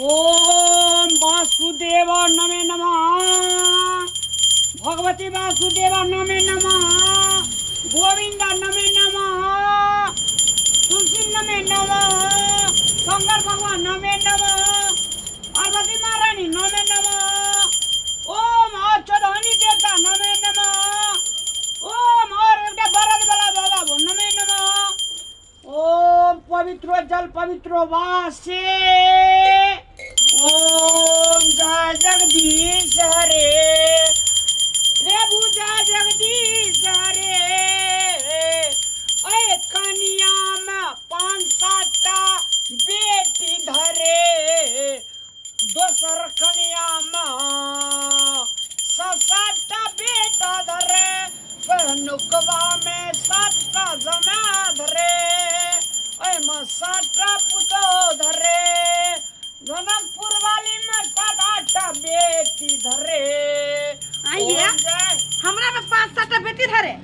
ओम वासुदेव नमे नमः भगवती वासुदेव नमे नमः गोविंद नमे नमः तुलसी नमे नमः शंकर भगवान नमे नमः पार्वती महारानी नमे नमः ओम और चौधनी देवता नमे नमः ओम और एकटा बरद वाला बाबा वो नमे नमः ओम पवित्र जल पवित्र वासे ओम जय जगदीश हरे प्रभु जय जगदीश हरे ओए कनिया में पाँच सातटा बेटी धरे दोसर कनियामे सात सातटा बेटा धरे पहनुकबामे सातटा जमा धरे ओहिमे सातटा पुतो धरे जनकपुर वालीमे सात आठटा बेटी धरे आइए। ओहिमे हमरा में पाँच सात बेटी धरे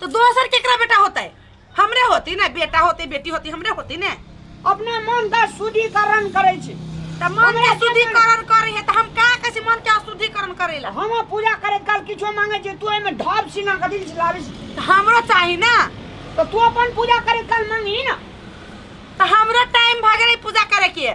तो दोसर केकरा बेटा होते हमरे होती ने बेटा होती बेटी होती हमरे होती ने अपना मन का शुद्धिकरण करे छी त मन के शुद्धिकरण करे है त हम का कैसे मन के शुद्धिकरण करेला हम पूजा करे काल किछो मांगे छी तू एमे ढाब सीना के दिल लावे छी त हमरो चाही ना तो तू अपन पूजा करे काल मांगी ना त हमरो टाइम भ गेलै पूजा करे के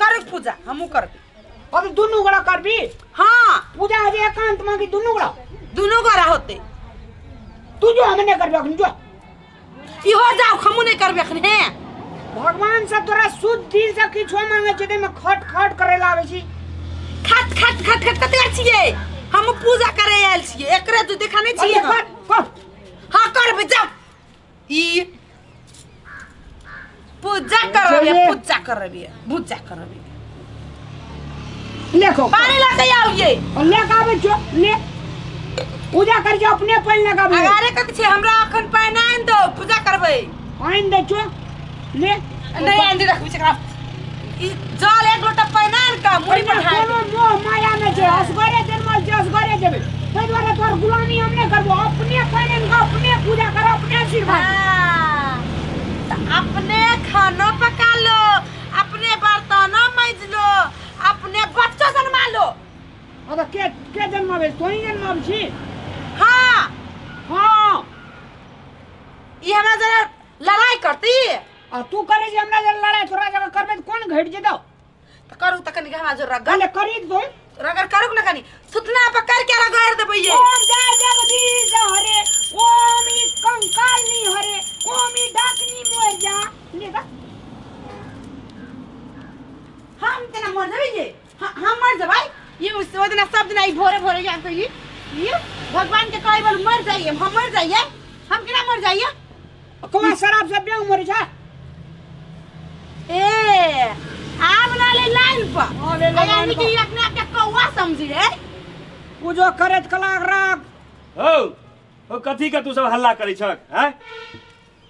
करे के पूजा हमू करबी अभी दुनू गोड़ा करबी हाँ पूजा अभी एकांत में कि दुनू गोड़ा दोनों गोरा होते तू जो हमें नहीं करबे अखनी जो इहो जाओ हमू नहीं करबे अखन हे भगवान से तोरा शुद्ध दिल से किछो मांगे छै ते में खट खट करे लावे छी खट खट खट खट कते आर छिए हमू पूजा करे आयल छिए एकरे तू देखा नहीं अरे छिए कर कर हाँ करबे जा ई पूजा कर रही है पूजा कर रही है पूजा कर रही है लेखो पानी लेके आओ ये ले काबे जो ले पूजा कर जो अपने पानी लगाबे अगारे कथी छै हमरा अखन पानी आनि दो पूजा करबै आनि दे जो ले नहीं आंधी रखबी छै एकरा ई जल एक लोटा पानि आनि कऽ मुड़ी पर ढारि कोनो मोह माया नहि छै असगरे जन्मल छै असगरे जेबै ताहि दुआरे तोहर गुलामी हम नहि करबो अपने पानि आनि कऽ अपने पूजा कर अपने आशीर्वाद दे। हाँ, तऽ अपने खानो पका लो अपने बर्तनो मैज लो अपने बच्चो जन्मा लो अब के के जन्माबै तोही जन्माबै छी हाँ हाँ ई हमरा जरा लड़ाई करती आ तू करे जे हमरा जे लड़ाई थोड़ा जगह करबे त कोन घट जेतो तो करू तो कनी गहना जोर रगड़ गले करी तो रगड़ करू ना कनी सुतना पर कर के रगड़ देबे ये ओम जय जगदीश हरे ओम ई कंकालनी हरे ओम ई डाकनी मोर जा ले बा हम तेरा मर जाबे ये ह- हम मर जबै ई उस- ओ दिना सब दिना ई भोरे भोरे जान कही ई भगवान के कहे बोल मर जाइए हम मर जाइए हम केना मर जाइए कौन शराब से बेंग मरे छा ए आब ना ले लाइन पर हाँ, ले ले आ, यानी लाइन कि पर। ई अपने आप के कौआ समझी है पूजो करत कलाक राग हौ हौ कथी के तू सब हल्ला करै छक हैं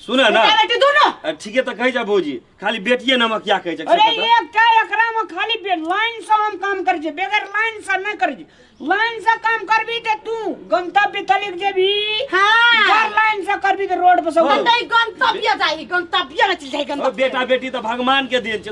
सुना ना बेटा बेटी दोनों आ, ठीके तऽ कहै जा भौजी खाली बेटिए नमकिया कहै छै अरे ये क्या एकरा में खाली बे- लाइन से हम काम कर जे बगैर लाइन से नहीं कर जे लाइन से काम करबी ते तू गंतव्य तलिक जेबी हाँ। चार लाइन से करबी ते रोड पर सब हाँ। नहीं गंतव्य जाई गंतव्य न चल जाई ओ, गंतव्य बेटा बेटी तऽ भगवान के देन छै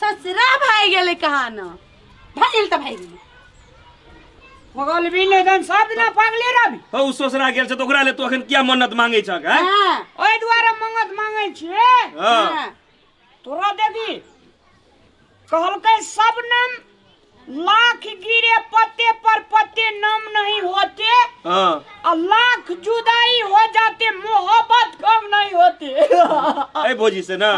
ससुरा भाई गेले कहा न भाई गेल त भाई गेल पगल भी नहीं दन सब दिन पगले रहबी हौ उ ससुरा गेल छ त ओकरा ले तू अखन किया मन्नत मांगे छ का हां ओए द्वारा मंगत मांगे छे हां तोरा देखी कहलकै सब नाम लाख गिरे पत्ते पर पत्ते नम नहीं होते हाँ और लाख जुदाई हो जाते मोहब्बत कम नहीं होते अरे भोजी से ना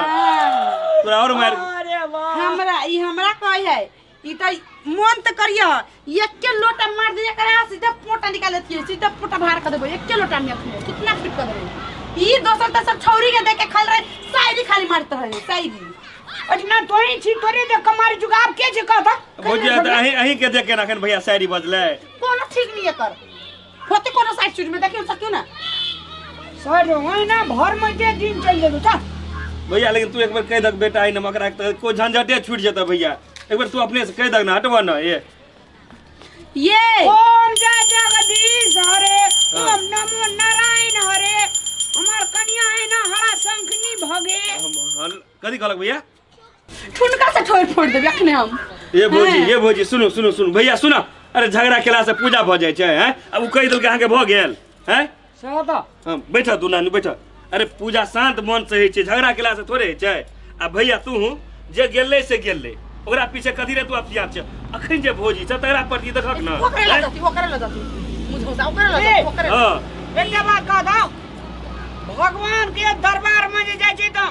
तोरा और मार अरे वाह हमरा ई हमरा कहे है ई त मन त करिय एके लोटा मार दिया करे आ सीधा पोटा निकाल देती सीधा पोटा बाहर कर देबो एके लोटा में अपने कितना फिट कर देबो ई दोसर त सब छौरी के देख के खाल रहे शायरी खाली मारत रहे शायरी अठना तोरे छी तोरे दे कमार जुगाब के जे कहता भौजी आ तऽ अहीं अहीं के देख के रखन भैया शायरी बजले कोनो ठीक नहीं है कर होते कोनो साइड चीज में देखियो सकियो ना सर ओए ना भर में जे दिन चल जेबे ता भैया लेकिन तू एक बार कह दक बेटा आई नमक राख तऽ कोई झंझटे छूट जेतऽ भैया एक बार तू अपने से कह दक ना हटवा ना ये ये ओम जय जगदीश हरे ओम नमो नारायण हरे हमार कन्या है ना हरा शंखनी भगे हम हल कथी कहलक भैया ठुनका से ठोड़ फोड़ देबे अखने हम ये भौजी हैं। ये भौजी सुनो सुनो सुनो भैया सुनो अरे झगड़ा केला से पूजा भऽ जाइ छै हैं अब उ कहि देलकै अहाँके भऽ गेल हैं सएह तऽ हँ बैठह तू नानी बैठह अरे पूजा शान्त मन से होइ छै झगड़ा केला से थोड़े होइ छै आ भैया तू जे गेलै से गेलै ओकरा पीछे कथी रे तू आब सियात छै अखन जे भोजी छै तकरा प्रति देखक ने ओकरे लऽ जाती ओकरे लऽ जाती मुझे सा ओकरे लऽ जाती ओकरे हँ एकटा बात कह दो भगवान के दरबार में जे जाइ छै तऽ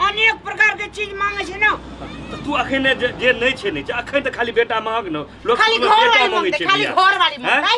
अनेक प्रकार के चीज मांगे छै ना तऽ तू अखन जे जे नहि छै नहि छै अखन तऽ खाली बेटा महग ने लोक खाली बेटा घर वाली मांगै ममते छै खाली भैया। घर वाली हैं? ममते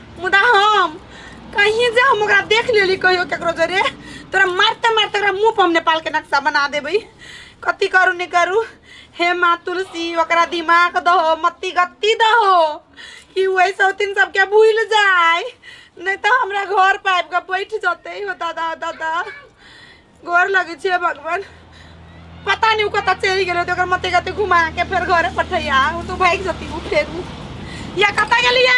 मुदा हम कहीं जे हम ओकरा देख लेली कहियो केकरो जरे तोरा मारते मारते ओकरा मुंह पर हम नेपाल के नक्शा बना देबै कथी करू नहि करू हे माँ तुलसी ओकरा दिमाग दहो मत्ती गत्ती दहो कि ओ ऐसे होथिन सबके भूल जाय नहि तऽ हमरा घर पर आबि कऽ बैठ जतै हो दादा दादा गोर लगे छे भगवान पता नहीं कत चलि गेल तो मत गते घुमा के फिर घर पठैया तो भाग जती फेरू या कत गेलिए